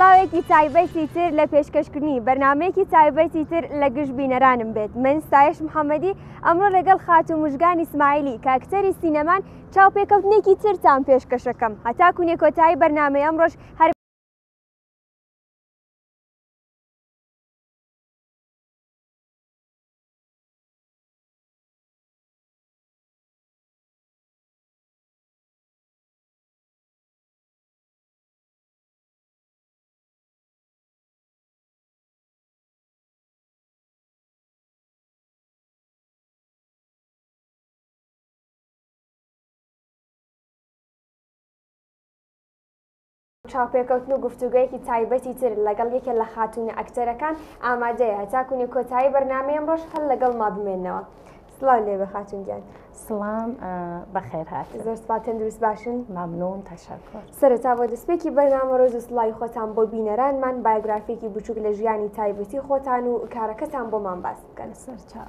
سڵاوێکی تایبەتی تر لە پێشکەشکردنی بەرنمەیەکی تایبەتی تر لە گشت بینەرانم بێت من ستایش محەممەدی ئەمڕۆ لەگەڵ خاتو مژگانی سمایلی کاکتەری سینەمان چاوپێکەوتنێکی ترتان پێشکەشەکەم هەتاکونێ کۆتایی بەرنامەی ئەمڕۆش هەر. چاوپێکەوتن و گفتوگۆیەکی تایبەتی تر لەگەڵ یەکێ لە خاتوونە ئەکتەرەکان ئامادەیە هەتاکوونی کۆتایی بەرنامەی ئەمڕۆش هەر لەگەڵ ما بمێنەوە سڵاو لێ بە خاتون گیان سڵام بەخێر هات زۆر سپا تەندروست باشن مامنون تەشەکر سەرەتا بۆ دەستپێکی بەرنامە ڕۆز و سڵاوی خۆتان بۆ بینەرانمان بایگرافێکی بچووک لە ژیانی تایبەتی خۆتان و کارەکەتان بۆمان باس بکەن سەرچاو.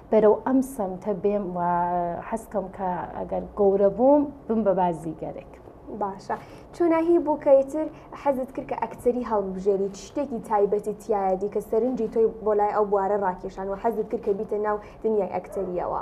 بەرەو ئەم سەمتە بێم و حەزکەم کە ئەگەر گەورە بووم بم بە بازیگەرێک. باشە چۆناهی بوو کە ئیتر حەزت کرد کە ئەکتەری هەڵبژێری شتێکی تایبەتی تایەدی کە سەرنجی تۆی بۆ لای ئەو بوارە ڕاکێشان و حەزت کرد کە بیتە ناو دنیای ئەکتەریەوە.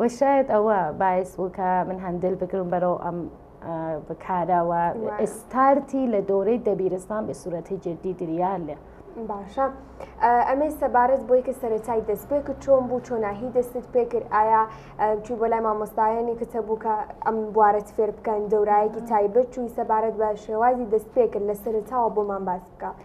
وە شایەد ئەوە باعس بوو کە من هەندل بگرم بەرەو ئەم بکارەوە ئستارتی لە دۆرەی دەبیرستان بە سوورەتی جددی دریان لێ باشە ئەمەی سەبارەت بۆی کە سەرەتای دەست پێ کرد چۆن بوو چۆناهی دەستت پێ کرد ئایا چوی بۆ لای مامۆستایانی کتە بوو کە ئەم بوارەت فێر بکەن دەورایەکی تایبەت چوی سەبارەت بە شێوازی دەست پێ کرد لە سەرتاوە بۆمان باس بکە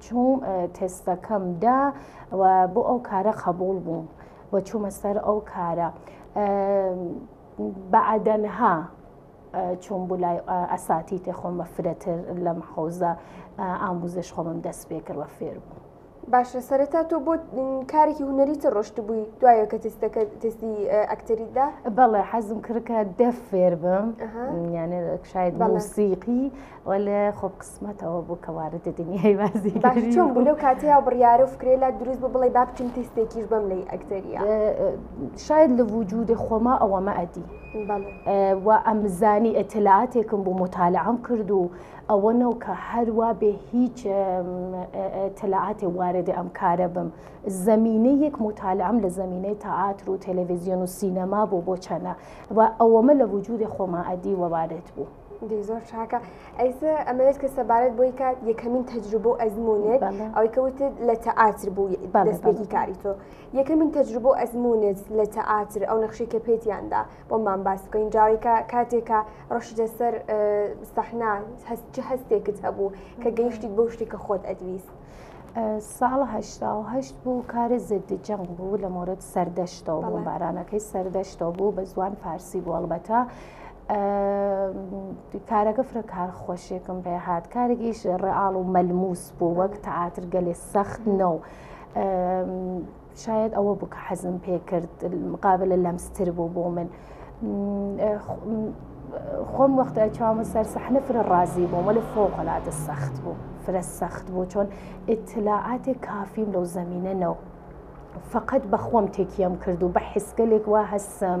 چووم تێسپەکەم دا و بۆ ئەو کارە قبول بووم و چوومە سەر ئەو کارە بەعدەنها چوون بوو لای ئەساتی تێ خۆم بە فرەتر لەم حوزە ئاموزش خۆمم دەست پێ کردوە فێر بوو. باشە سەرەتا تۆ بۆ کارێکی هوەری تە ڕۆشت بووی دوایە کە تستەکە تستی ئەکتەریدا بەڵێ حەزم کردکە دەفێر بم یانە شاید موسیقی وەلێ خۆ قسمەتەوە بوو کە واردە دنیای بازی باش چۆن بوو لەو کاتەیە بڕیارە و فکرێ لە دروست بوو بڵێ با بچم تیستێکیش بەم لی ئەکتەریە شاید لە وجودی خۆما ئەوەمە ئەدی و ئەمزانی ئەتەلاتێکم بوو متالعام کرد و ئەوە نەو کە هەروە بێ هیچ تەلعاتێ واردە ئەم کارە بم زمینە یەک متالعام لە زمینەی تەعاتر و تەلەڤزیۆن و سینەما بۆ بۆ چەنە و ئەوەمە لە وجودی خۆما ئەدی وەوارێت بوو. دەی زۆر چاکە ئەیسە ئەمەوێت کە سەبارەت بۆی کات یەکەمین تەجروبە و ئەزمونێت ئەوەی کەوتت لە تەعاتر بوو دەستێکی کاری تۆ یەکەمین تەجروبە و ئەزمونێت لە تەعاتر ئەو نەخشی کە پێتیاندا بۆمان باس بکەین جاویکە کاتێکە ڕۆشتە سەر سەحنا هەست چ هەستێکت هەبوو کە گەیشتی بۆ شتی کە خۆت ئەدویست. ساڵە هەشت بوو کارە زدی جەنگ بوو لە مۆرەت سەردەشتەوە بۆ بارانەکەی سەردەشتەوە بوو بە زوان پارسی بوو هەڵبەتە کارەکە فرە کار خۆشێکم پێ هاات کارێکیش ڕئاڵ و مەلموس بۆ وەک تەعاتر گەلێ سەخت نە و شاید ئەوە بکە حەزم پێ کرد مقابل لە لەمستر بوو بۆ من خۆم وەختە چاومە سەر سەحنە فرە ڕازی بووم وە لە فۆقلاتە سەخت بوو فرە سەخت بوو چۆن ئتلاعاتێک کافیم لەو زمینە نەوە فقط بەخۆم تێکیم کرد و بە حسکەلێک وا هەستم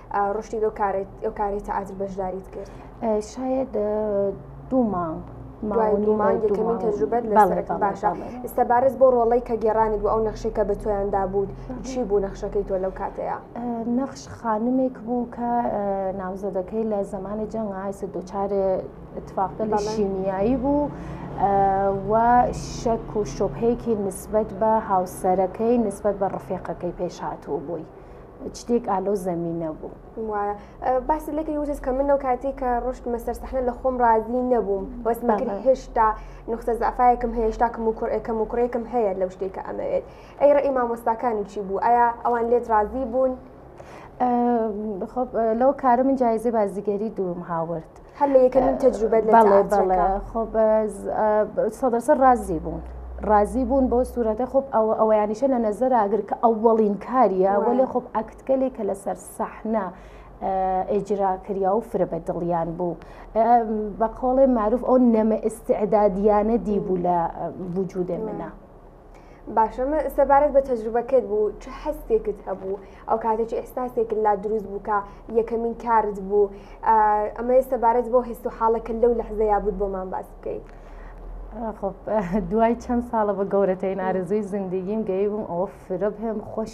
ڕشتی لەو کارەی تەعادل بەشداریت کرد شاید دوو مانگ دومانگەکەمین تەجروبەت لەڵێک باشە ئستا بارز بۆ ڕۆڵی کە گێرانی بۆ ئەو نەخشەی کە بە تۆیاندا بوو چی بوو نەخشەکەی تۆ لەو کاتەیە نەخش خانمێک بوو کە ناوزەدەکەی لە زمانی جەنگ ئایسە دوچارێ اتفاقی لە شیمیایی بوو و شەک و شۆپێکی نسبەت بە هاوسەرەکەی نسبەت بە ڕفێقەکەی پێشهاتوو بووی. شتێک ئالۆ زەمینە بوو وایە باسی لەکە وجز کە منەوە کاتێک کە ڕشت مەسەر سەحنە لە خۆم ڕازی نەبووم بەسمەکە هێشتا نقطە زعفاەکم هێشتا کەم و کوڕێکەکەم و کوڕێکم هەیە لەو شتێکە ئەمەوێت ئەی ڕێ مامۆستاکانی چی بوو ئایا ئەوان لێت ڕازی بوون لەو کارە من جایزی بازیگەری دووم هاورد. هەر لە یەکەمین تەجروبەت لە بەڵێ بەڵێ تەعاترەکە خۆ بەز سەدەسە ڕازی بوون ڕازی بوون بۆ سوورەتە خۆب ئەوە ئەوەیانیشە لە نەزەر ئاگر کە ئەوەڵین کاریە وای. وەلێ خۆب ئەکتکەلێک کە لەسەر سەحنە ئێجرا کریا و فرە بە دڵیان بوو بە قۆڵێ معروف ئەو نەمە ئستعدادیانە دی بوو لە وجودێ منە. باشم سەبارەت بە تەجروبەکەت بوو چ حەستێکت هەبوو ئەو کاتە چ ئحساسێکت لا دروست بوو کە یەکەمین کارت بوو ئەمە سەبارەت بۆ هەست و حاڵەکە لەو لەحزەیە بوو بۆمان باس بکەیت. دوای چەند ساڵە بە گەورەترین ئارزوی زندگیم گەی بووم ئەوە فرە بهم خۆش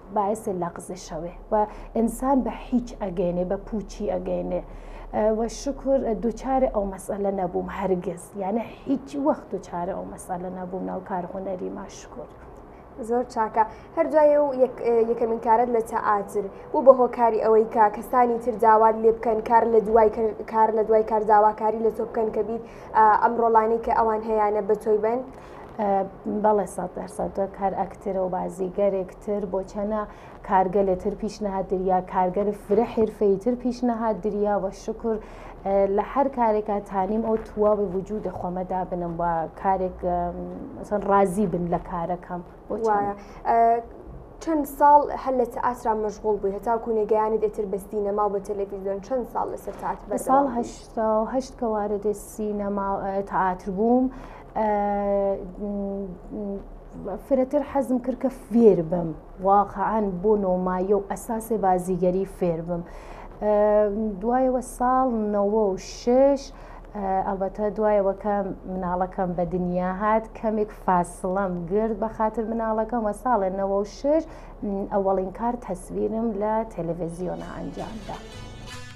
باعث لغزش ئەوێ و ئینسان بە هیچ ئەگەینێ بە پوچی ئەگەینێ و شکر دووچارە ئەو مەسەلە نەبووم هەرگز یانە هیچ وەخت دووچارە ئەو مەسەلە نەبووم ناو کار هوەری ماشکر. زۆر چاکە هەرجای و یەکەمین کارت لە تەعاتر بوو بە هۆکاری ئەوەی کە کەسانی تر داوات لێ بکەن کار لە دوای کار لە دوای کار داواکاری لە تۆ بکەن کە بیت ئەم ڕۆڵانی کە ئەوان هەیەە بە تۆی بن بەڵێ سەد دەر سەد کار ئەکتەرە و بازیگەرێک تر بۆ چەنە کارگە لە تر پیشنەهات دریا کارگەر فرە حرفەی تر پیشنەهات دریا وە شکر لە هەر کارێکە تانیم ئەو تواوی وجود دەخۆمەدا بنم وە کارێک ڕازی بن لە کارەکەم وایە. چەند ساڵ هەر لە ئاسرا مەشغول بووی هەتا کوونێگەیانی دەتر بە سینەما بە تەلەڤیزیۆن چەند ساڵ لەسەر تاات بە ساڵ هەشتەوە هەشت کەوارە دە سینەما تەعاتر بووم فرەتر حەزم کرد کە فێر بم واقعان بۆ نۆمایە و ئەساسێ بازیگەری فێر بم دوایەوە ساڵ نەوە و شش ئەڵبەتە دوایەوە کە مناڵەکەم بە دنیا هات کەمێک فاسڵم گرد بە خاطر مناڵەکەم وە ساڵێ نەوە و شش ئەوەڵین کار تەسویرم لە تەلەڤزیۆنە ئەنجامدا.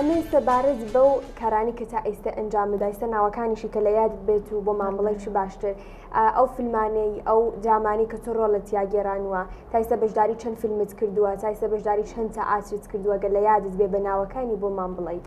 ئەمەی سەبارەت بەو کارانی کە تا ئیستا ئەنجام بدایسە ناوەکانیشی کە لە یادت بێت و بۆ مامڵی چی باشتر ئەو فیلمانەی ئەو درامانی کە تۆ ڕۆ لە تیاگەێرانوە تایسە بەشداری چەند فیلمت کردووە تایسە بەشداری چەند تا ئاچیت کردووە گە لە یادت بێ بە ناوەکانی بۆ مام بڵیت.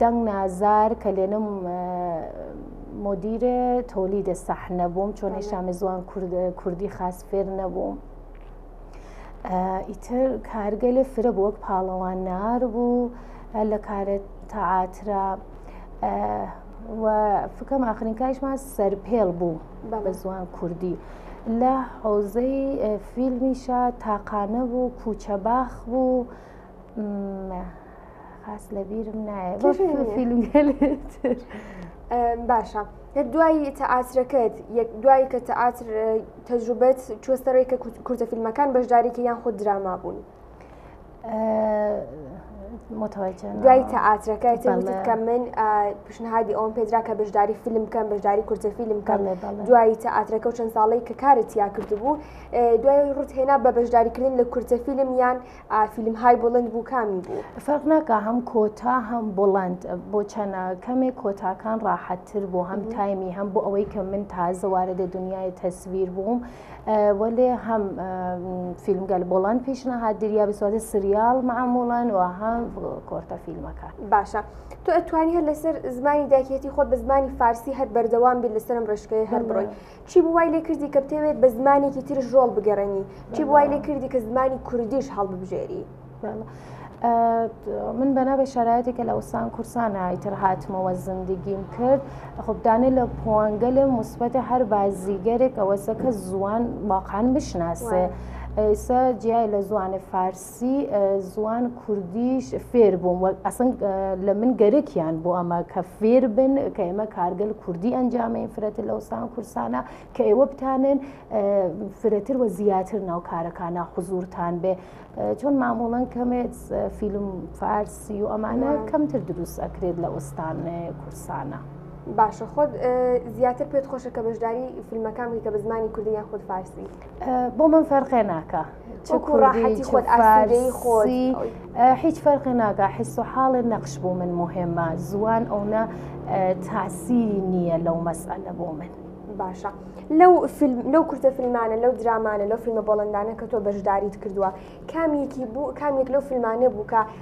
دەنگ نازار کە لێنم مدیرێ تۆلی دە سەح نەبووم چۆن هێشتا مزوان کوردی خاس فێر نەبووم ئیتر کارگە لێ فرە بۆ وەک پاڵەوان نار بوو لە کارێت تەعاترا و فکەم ئاخرین کاریشمان سەرپێڵ بوو بە زوان کوردی لە حوزەی فیلمیشە تاقانە بوو کوچە باخ بوو خاس لە بیرم نایە باشە دوایی تەعاترەکەت یەک دوایی کە تەعاتر تەجروبەت چۆستەڕێک کە کوردە فیلمەکان بەشدارێکی یان خود دراما بوون. دوای تەعاترەکە کە من پیشنهادی ئەوم پێدرا کە بەشداری فیلم بکەم بەشداری کورتە فیلم بکەم دوایی تەعاترەکە و چەند ساڵی کە کارت یا کردبوو دوای ڕوت هێنا بە بەشداریکردن لە کورتە فیلم یان فیلم های بڵند بوو کامی بوو فەرق ناکە هەم کۆتا هەم بڵند بۆ چەنە کەمێک کۆتاکان ڕاحەتتر بۆ هەم تایمی هەم بۆ ئەوەی کە من تازە وارە دە دنیای تەسویر بووم وەێ هەم فیلمگەل بڵند پیشنەهات دریا بسوازە سریال معموڵان و هەم کۆرتە فیلمەکە باشە تۆ ئەتوانی هەر لەسەر زمانی داکیەتی خۆت بە زمانی فارسی هەر بەردەوام بیر لەسرم ڕێشکەی هەر بڕۆی چی بوو وای لێ کردی کە بتەوێت بە زمانێکی ترش ڕۆڵ بگەڕێنی؟ چی بوو وای لێ کردی کە زمانی کوردیش هەڵببژێری؟ بەڵێ. ئە، من بەنابێ شەرایەتی کە لە وسان کورسانە ئیتر هاتمەوە زندگیم کرد خب دانێ لە پوانگەلێ موسبەتێ هەر بازیگەرێک ئەوەسە کە زوان واقعەن بشناسێ. ئێسە جیای لە زوانێ فارس سی زوان کوردیش فێر بووم وە ئەسن لە من گەرەکیان بۆ ئەمە کە فێر بن کە ئێمە کارگەل کوردی ئەنجامەین فرەتر لە وسان کورسانە کە ئێوە بتانن فرەتر وە زیاتر ناو کارەکانە حزورتان بێ چۆن مامۆڵەن کەمێت فیلم فارسی و ئەمانە کەمتر دروست ئەکرێت لە ئوستان کورسانە. باشە خۆت زیاتر پێت خۆشە کە بەشداری فیلمەکان بکە بە زمانی کوردی یان خود فارسی بۆ من فەرقێ ناکە. وەکو ڕاحەتی خۆت ئاسودەی خۆی هیچ فەرقی ناکە حس و حاڵێ نەخش بۆ من مهمە زوان ئەونا تاسیری نییە لەو مەسئلە بۆ من باشە لەو لەو کورتە فیلمانە لەو درامانە لەو فیلمە بۆڵندانە کە تۆ بەشداریت کردووە کامیەکی بوو کامیک لەو فیلمانە بوو کە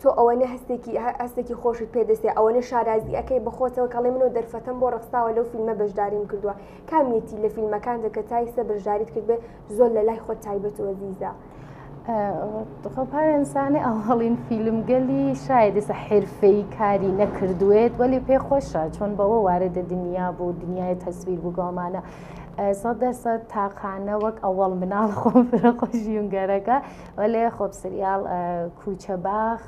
تۆ ئەوەنە هەستێکی هەستێکی خۆشت پێدەسێ ئەوەنە شارازی ئەەکەی بەخۆتەوە کەڵێ منەوە دەرفەتم بۆ ڕخساوە لەو فیلمە بەشداریم کردووە کامیەتی لە فیلمەکان دەکە تایسە بەشداریت کردێ زۆر لە لای خۆت تایبەتەوە زیزە. خۆپارێنسانی ئەوهڵین فیلمگەلی شایدسە حرفەی کاری نەکردوێت وەلی پێ خۆشە چۆن بەوە وارە دە دنیا بوو دنیای تەسویر بگۆمانە سەد دەسە تاقانە وەک ئەوەڵ مناڵ خۆم فرە خۆشیونگەرەکە بەلێ خۆپ سریال کوچە باخ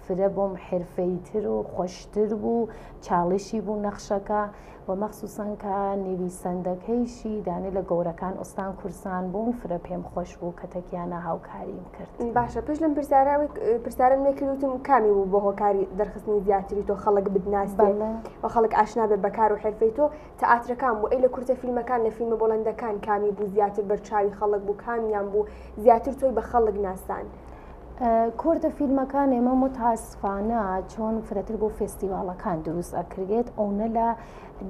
فرە بۆم حرفەی تر و خۆشتر بوو چاڵشی بوو نەخشەکە و مەخصوسن کە نویسەندەکەیشی دانێ لە گەورەکان ئوستان کورسان بوون فرە پێم خۆش بوو کە تەکیانە هاوکاریم کرد باشە پێش لەم پرسیارەوەی پرسیارم نەکردوتم کامی بوو بۆ هۆکاری دەرخستنی زیاتری تۆ خەڵک بدناس بە خەڵک ئاشنا بێ بەکار و حرفەی تۆ تئاترەکان بوو ئەی لە کورتە فیلمەکان لە فیلمە بۆڵەندەکان کامی بوو زیاتر بەرچاوی خەڵک بوو کامیان بوو زیاتر تۆی بە خەڵک ناسان. کورتە فیلمەکان ئێمە متاسفانە چۆن فرەتر بۆ فستیڤاڵەکان دروست ئەکرێت ئەونە لە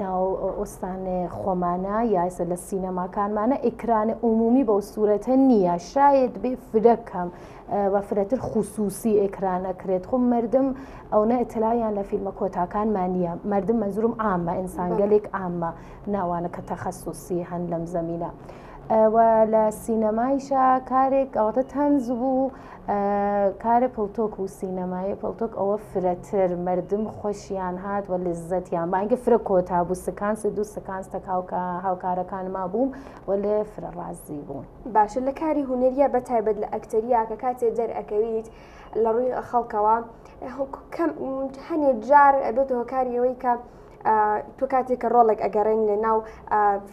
ناو ئۆستانێ خۆمانە یاسە لە سینەماکانمانە ئیکرانە عمومی بەو سوورەتە نییە شاید بێ فرەکەم و فرەتر خوسوسی ئێکران ئەکرێت خۆ مردم ئەوە ئەتلاویان لە فیلمە کۆتاکانمان نییە مردم منزورم ئامە ئینسانگەلێک ئامە ناوانە کە تەخەسوسی هەن لەم زمینە. لە سینەمایشا کارێک ئەوتە تەنز بوو کارە پڵتۆک و سینەمایە پڵتۆک ئەوە فرەتر مردم خۆشیان هات و لزەتیان بانگە فرە کۆتا بوو سکانس دوو سکانس تەکاوکە هاوکارەکانما بووم و لێ فرە ڕازی بوون. باشە لە کاری هونەریە بە تایبەت لە ئەکتەریا کە کاتێ دەرئەکەویت لە ڕووی خەڵکەوە هەنێ جار ئەبێت هۆکاری ئەوەی کە تۆ کاتێک کە ڕۆڵێک ئەگەڕێن لە ناو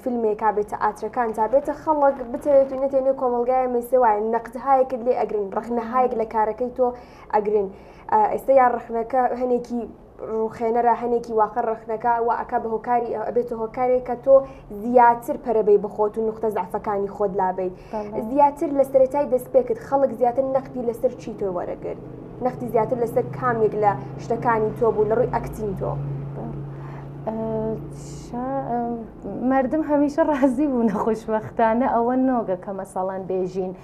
فیلمێکا بێتە ئاچەکان تا بێتە خەڵک بتەوێت و نەتێنێ کۆمەلگای مەسێ وایە نەقدهایەکت لێ ئەگرن ڕخنەهایەک لە کارەکەی تۆ ئەگرن ئێستا یا ڕخنەکە هەنێکی ڕوخێنەرە هەنێکی واقع ڕەخنەکە و ئەکا بە هۆکاری ئەبێتە هۆکارێک کە تۆ زیاتر پەرەبەی بخۆت و نقطە زعفەکانی خۆت لابیت زیاتر لە سەرەتای دەستپێکت خەڵک زیاتر نەختی لەسەر چی تۆی وەرەگرت نەختی زیاتر لەسەر کامێک لە شتەکانی تۆ بوو لە ڕووی ئەکتین تۆ. مردم هەمیشە ڕازی بوو نەخۆشببختانە ئەوە نۆگە کە مەسەڵەن بێژین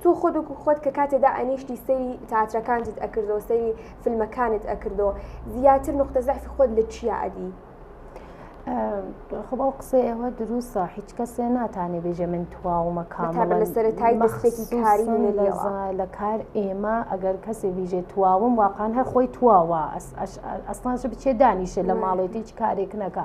تۆ خۆت وەکو خۆت کە کاتێ دائەنیشتی سەیری تاترەکانتت ئەکردەوە سەیری فلمەکانت ئەکردەوە زیاتر نوقتە زەعفی خۆت لە چیا ئەدی؟ خۆ ئەو قسەیەوە دروستە هیچ کەسێ ناتانێ بێژێ من تواومە کامەبە لە سەرەتای مەخسێکی کاری لە کار ئێمە ئەگەر کەسێ بیژێ تواوم واقعان هەر خۆی تواوە ئەسمانش بچێ دانیشە لە ماڵێتی هیچ کارێک نەکە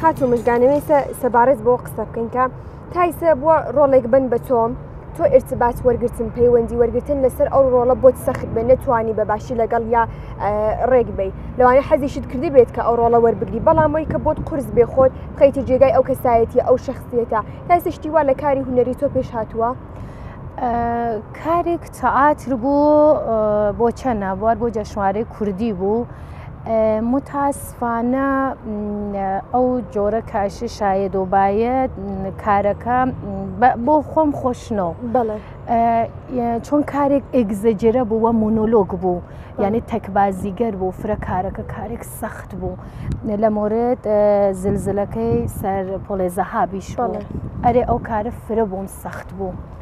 خاتو مژگانەوێسە سەبارەت بۆ قسە بکەین کە تایسە بووە ڕۆڵێک بن بە تۆم تۆ ارتباات وەرگتن پەیوەندی وەرگتن لەسەر ئەو ڕۆڵە بۆت سەخت بێن نەتوانی بە باشی لەگەڵ یا ڕێک بی لەوانە حەزیشت کردی بێت کە ئەو ڕۆڵە وەربگری بەڵامەوەی کە بۆت قرس بێ خۆت بخیتە جێگای ئەو کەسایەتی ئەو شخصیەتە تایسە شتی وا لە کاری هوەری تۆ پێش هاتووە؟ کارێک تەعاتر بوو بۆ چەنە بوار بۆ جەشنوارەی کوردی بوو متاسفانە ئەو جۆرە کاشی شاید و باید کارەکە بۆ خۆم خۆشنەوە چۆن کارێک ئگزەجرە بوو وە مونۆلۆگ بوو یعنی تەکبازیگەر بوو فرە کارەکە کارێک سەخت بوو لە مۆرێت زلزلەکەی سەر پۆلێزەهابیش ئەرێ ئەو کارە فرە بووم سەخت بوو.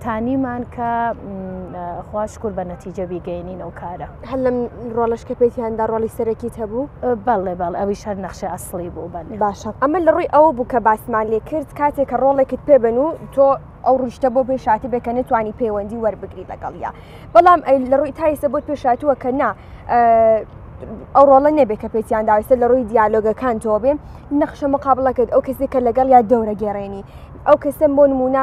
تانیمان کە خوا شکر بە نەتیجە بیگەینین ئەو کارە هەر لەم ڕۆڵش کە پێیاندا ڕۆڵی سەرەکی هەبوو بەڵێ بەڵ ئەوی شەر نەخشە ئەسڵی بوو بەن باشە ئەمە لە ڕووی ئەوە بوو کە باسمان لێ کرد کاتێک کە ڕۆڵێکت پێ بن و تۆ ئەو ڕشتە بۆ پێشاتی بێ کە نتوانی پەیوەندی وەربگری لەگەڵە بەڵام ئەی لە ڕووی تایسە بۆت پێشاتووە کە نا ئەو ڕۆڵە نەبێت کە پێچیان داویستە لە ڕووی دیالۆگەکان تۆ بێ نەخشە مقابلەکەت ئەو کەسێک کە لەگەڵ یا دەورە گێڕێنی ئەو کەسم بۆ نمونە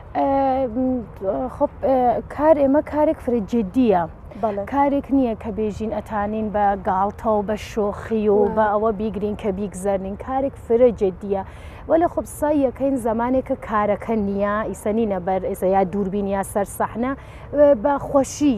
کار ئێمە کارێک فرە جددیە کارێک نییە کە بێژین ئەتانین بە گاڵتەوە بە شۆخی و بە ئەوە بیگرین کە بیگزەرنین کارێک فرە جددیە وە لە خۆبسای یەکەین زمانێکە کارەکە نییە ئیسەنینە بەر ئێسە یا دووربین یا سەر سەحنە بە خۆشی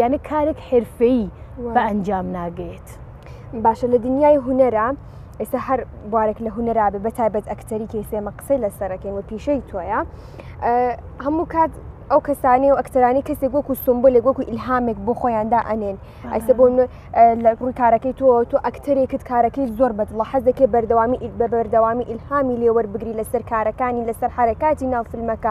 یانە کارێک حرفەیی بە ئەنجام ناگەێت باشە لە دنیای هوەرە ئێستا هەر بوارێک لە هوەرابێ بە تایبەت ئەکتەری کەیسێمە قسەی لە سەرەکەین و پیشەی تۆیە هەموو کات ئەو کەسانی و ئەکتەرانی کەسێک وەکو سمبولێک وەکو ئیلهامێک بۆ خۆیاندا ئەنێن ئەسە بۆ لە ڕووی کارەکەی تۆ تۆ ئەکتەرێکت کارەکەی زۆر بەدڵە حەزەکەی بەردەوامی بە بەردەوامی ئیلهامی لێوەربگری لەسەر کارەکانی لەسەر حرکاتی ناوفلمەکە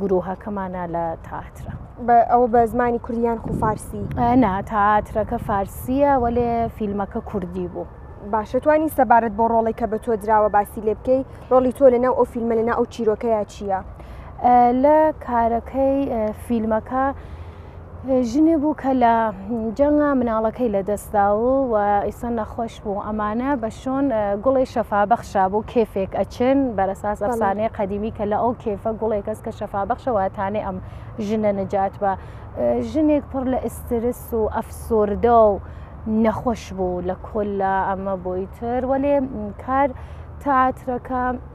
گروهەکەمانە لە تاترە. ئەوە بە زمانی کوردیان خو فارسی نا تاترەکە فارسیە وەێ فیلمەکە کوردی بوو. باشەتوانی سەبارەت بۆ ڕۆڵی کە بە تۆ دراوە باسی لێ بکەی ڕۆڵی تۆ لەناو ئەو فیلمە لەنا ئەو چیرۆکەیە چییە؟ لە کارەکەی فیلمەکە ژنێ بوو کە لە جەنگا مناڵەکەی لە دەستدا و و ئیسە نەخۆش بوو ئەمانە بە شۆن گوڵی شەفابەخشا بوو کێفێک ئەچن بەرەساس ئەفسانەیە قەدیمی کە لە ئەو کێفە گوڵێک کەس کە شەفابەخشەوەتانێ ئەم ژنە نەجات بە ژنێک پڕ لە ئسترس و ئەفسۆردە و نەخۆش بوو لە کۆل لە ئەمە بۆی تر وەێ کار تاترەکە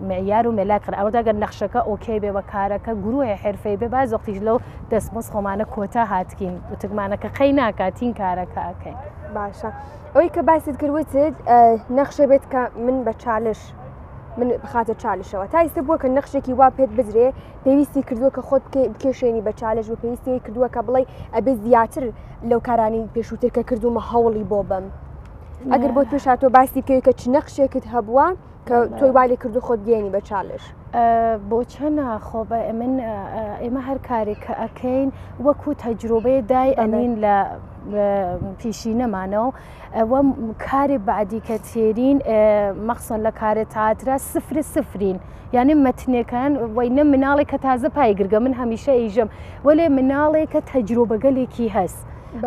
معیار و مەلای قەرا ئەوەدا گەر نەخشەکە ئۆکەی بێ بە کارەکە گروهێ حرفەی بێ باز وەختیش لەو دەستمۆز خۆمانە کۆتا هاتکین وتکمانەکە قەی ناکاتین کارەکە ئەکەین باشە ئەوی کە باست کردوتت نەخشە بێت کە من بە چالش من بخاتە چالشەوە تا ئیستا بووە کە نەخشێکی وا پێت بدرێ پێویستی کردووە کە خۆت بکێشێنی بە چالش و پێویستی کردووە کە بڵێ ئەبێ زیاتر لەو کارانی پێشووتر کە کردومە هەوڵی بۆ بم ئەگەر بۆ پێشاتۆ باسی بکەوی کە چ نەخشێکت هەبووە تۆی والی کردو خۆت گەێنی بە چالش بۆ چەنە خۆ بە من ئێمە هەر کارێک کە ئەەکەین وەکو تەجروبەیە دای ئەنین لە پیشی نەمانەوە ئەوە کارێ بعدی کە تێرین مەخسن لە کارە تاترا سفر سفرین یعنی مەتنەکان وی نە مناڵێک کە تازە پای گرگە من هەمیشە ئیژم وەێ مناڵێک کە تەجروبەگەلێکی هەست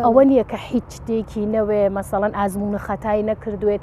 ئەوە نییە کە هیچ شتێکی نەوێ مەسەڵەن ئازمون خەتای نەکردوێت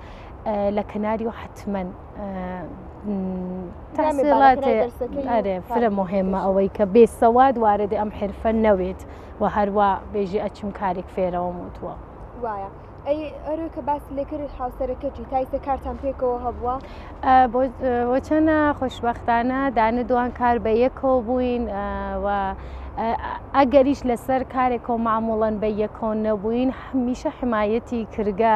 لە کەناری و حتممە تاسیڵاتێ فرە مهمە ئەوەی کە بێسەواد واردە ئەم حرفە نەوێت و هەروە بێژی ئەچم کارێک فێرەوە وتووە وایە. ئەی ئەرۆ کە باس لەکرد هاوسەرەکەتی تایسە کارتان پێکەوە هەبووە بۆچەنە خۆشببختانە دانە دوان کار بە یەکەوە بووین و ئەگەریش لەسەر کارێکەوە معموڵەن بە یەکۆن نەبووین هەمیشە حمایەتی کرگە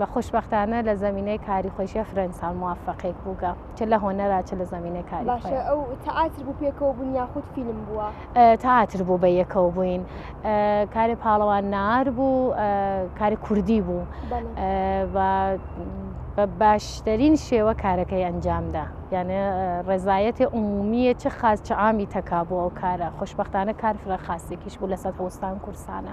و خوشبەختانە لە زەمینەی کاری خۆشیە فرەن ساڵ موفقێک بووگە چ لە هۆنەرا چ لە زەمینە کاری باشە ئەو تەعاتر بوو پێکەوە بوون یاخود فیلم بووە تاتر بوو بە یەکەوە بووین کاری پاڵەوان نار بوو کاری کوردی بوو بە باشترین شێوە کارەکەی ئەنجامدا یانە ڕێزایەتی عمومیە چ خاز چ ئامی تەکا بووە ئەو کارە خوشببختانە کار فرە خاستێکیش بوو لە سەد هەوستان کورسانە.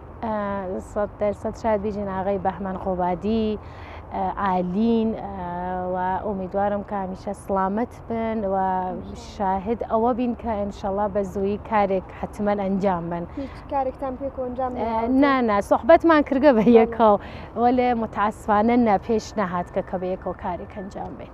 سەد دەر سەد شاد بیژین ئاغای بەهمەن قۆبادی ئالین و ئومیدوارم کە هەمیشە سلامت بن و شاهد ئەوە بین کە ئەنشەڵا بە زووی کارێک حتممە ئەنجام بن کارێکتان پێ ئەنجام نانا سوحبەتمان کردگە بە یەکەوە وەێ متعسفانە نە پێش نەهات کە کە بە یەکەوە کارێک ئەنجام بێت.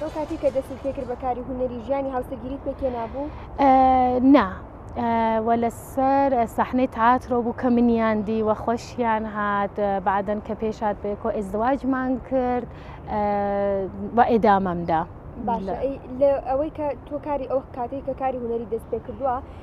تۆ کاتی کە دەستت پێکرد بە کاری هونەری ژیانی هاوسەگیریت پێکێنابوو؟ نا وە لەسەر سەحنەی تاترۆ بوو کە منیان دی وە خۆشیان هات بعدەن کە پێشات بێکۆ ئێزدواجمان کرد بە ئێدامەمدا باشە ئەوەی کە تۆ کاری ئەو کاتێک کە کاری هونەری دەست پێ کردووە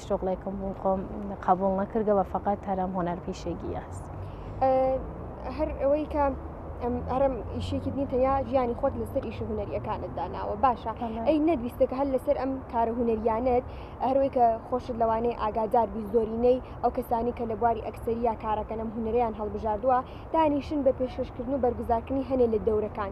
هیچ شغلێکم بوو خۆم قبول نەکردەوە فقط هەرم هۆنەر پیشێگی هەست هەر ئەوەی کە ئەرم ئیشێکی دنی تەنیا ژیانی خۆت لەسەر ئیش هوەریەکانت داناوە باشە ئەی نەدویستێکە هەر لەسەر ئەم کارە هوەریانت هەروەی کە خۆشت لەوانەیە ئاگادار بی زۆرینەی ئەو کەسانی کە لە بواری ئەکسریا کارەکەنم هوەریان هەڵبژاردووە دانیشن بە پێشکەشکردن و بەرگزارکردنی هەنێ لە دەورەکان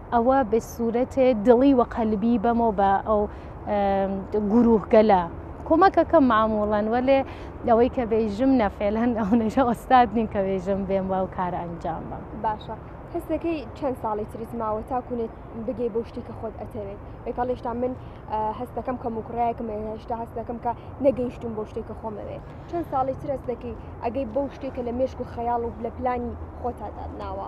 ئەوە بە سوورەتێ دڵی و قەلبی بەمۆ بە ئەو گوروهگەلە کۆمەکەکەم معموڵەن وەلێ لەوەی کە بێژم نەفێلەن ئەو نەژە ئۆستاد نیم کە بێژم بێم و ئەو کارە ئەنجام بم باشە حسەکەی چەند ساڵی تریت ماوە تاکوونێت بگەی بۆ شتی کە خۆت ئەتەوێت بێکەڵ هێشتا من هەستەکەم کە مکڕایەکم هێشتا هەستەکەم کە نەگەیشتم بۆ شتێک کە خۆمەوێت چەند ساڵی ترەستەکەی ئەگەی بەو شتێکە لە مێشک و خەیاڵ و لە پلانی خۆتادادناوە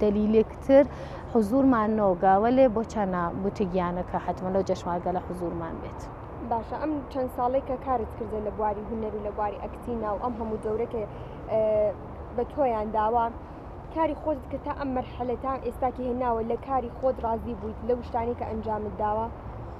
دەلیلێک تر حزورمان نۆگا وەلێ بۆ چەنە بوتگیانەکە حتممە لەو جەشمارگە لە حزورمان بێت. باشە ئەم چەند ساڵێک کە کارت کردە لە بواری هونەر و لە بواری ئەکتی ناو ئەم هەموو دەورەکە بە تۆیان داوە کاری خۆت کە تا ئەم مەرحەلە تا ئێستاکی هێناوە لە کاری خۆت ڕازی بوویت لە شتانی کە ئەنجامت داوە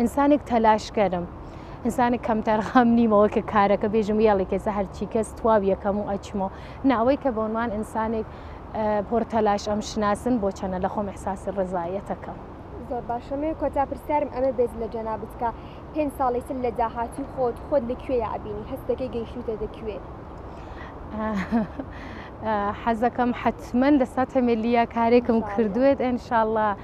ئینسانێک تەلاشکەرم ئینسانێک کەمتەرخەم نیمەوە کە کارەکە بێژم یاڵی کەسە هەرچی کەس تواو یەکەم و ئەچمەوە ناوەی کە بۆنمان ئینسانێک پۆر تەلاش ئەم شناسن بۆ چەنە لە خۆم احساسی ڕزایەتەکەم. زۆر باشەمێ کۆتا پرسیارم ئەمە بێت لە جەنابت کە پێنج ساڵی تر لە داهاتوی خۆت خۆت لە کوێ یابینی هەست دەکەی گەیشتوتە دە کوێ حەزەکەم حتمما لە ساتەمێلیە کارێکم کردوێت ئەنشاءله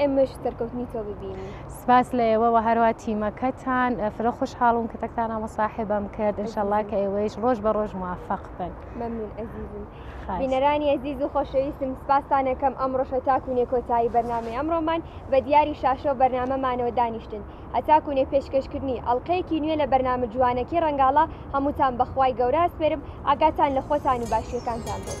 ئێمەش سەرکەوتنی تۆ ببینین سپاس لە ئێوە و هەروە تیمەکەتان فرە خوشحاڵم کە تەکتانە مەساحبم کرد انشاءله کە ئێوەیش ڕۆژ بە ڕۆژ موفق بن ممنون ئەزیزم بینەرانی ئەزیز و خۆشەویستم سپاسانەکەم ئەم ڕۆژە تاکوونێ کۆتایی بەرنامی ئەمڕۆمان بە دیاری شاشە و بەرنمەمانەوە دانیشتن هەتاکوونێ پێشکەشکردنی ئەڵلقەیەکی نوێ لە بەرنامە جوانەکەی ڕنگاڵە هەمووتان بەخوای گەورە سپێرم ئاگاتان لە خۆتان و باشیەکانتان بێت